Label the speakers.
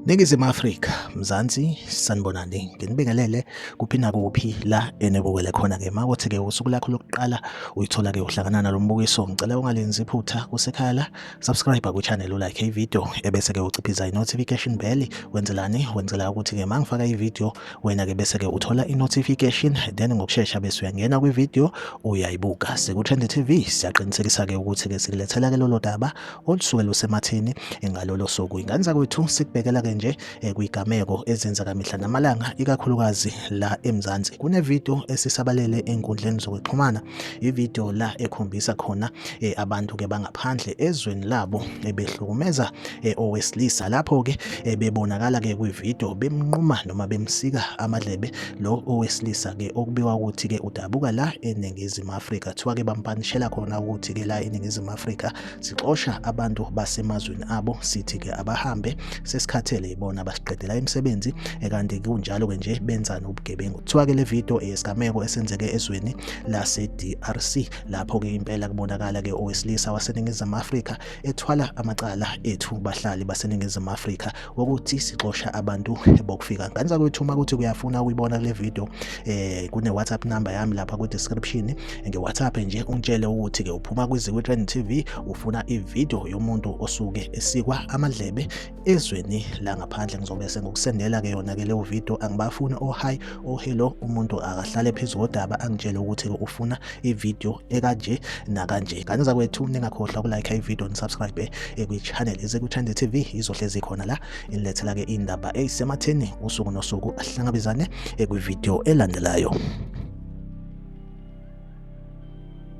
Speaker 1: Ningizimu Afrika, Mzansi, sanibonani. Nginibingelele kuphi nakuphi la enibukele khona ke. Makuthi ke usuku lakho lokuqala uyithola ke uhlangana nalombukiso. Ngicela ungalenzi iphutha kusekhaya la. Subscribe ku channel u like i video ebese ke uciphiza i notification bell. Wenzelani? Wenzela ukuthi ke mangifaka i video wena ke bese ke uthola i-notification then ngokushesha bese uyangena kwi-video uyayibuka siku-trend tv siyaqinisekisa ke ukuthi ke sikulethela ke lolo daba olusuke lusemathini ngalolo suku ingane zakwethu sikubekela ke nje eh, kwigameko ezenza kamihla namalanga ikakhulukazi la emzansi kunevideo esisabalele enkundleni zokuxhumana ivideo la ekhombisa khona eh, abantu ke bangaphandle ezweni labo ebehlukumeza eh, owesilisa lapho ke eh, bebonakala ke kwivideo bemnquma noma bemsika amadlebe lo owesilisa ke okubiwa ukuthi ke udabuka la eningizimu Afrika kuthiwa ke bampanishela khona ukuthi ke la eningizimu Afrika sixosha abantu basemazweni abo sithi ke abahambe sesikhathele ibona basiqedela imisebenzi ekanti kunjalo ke nje benzani ubugebengu kuthiwa ke le video eyesigameko esenzeke ezweni lase DRC lapho ke impela kubonakala ke owesilisa waseningizimu Afrika ethwala amacala ethu bahlali baseningizimu Afrika wokuthi sixosha abantu bokufika nganisa kwethu uma kuthi kuyafuna ukuyibona kule video eh kune WhatsApp number yami lapha ku description nge WhatsApp nje ungitshele ukuthi ke uphuma kwiziko Trend TV ufuna i video yomuntu osuke esikwa amadlebe ezweni langaphandle ngizobe sengikusendela ke yona ke leyo video angibafuni o oh, high oh hello umuntu akahlale phezu kodaba angitshele ukuthi ufuna ivideo ekanje nakanje kanye zakwethu ningakhohlwa ukulike ivideo nisubscribe ekwichannel ezekuthande tv izohlezi khona la inilethela ke indaba eyisematheni usuku nosuku ahlangabezane ekwivideo elandelayo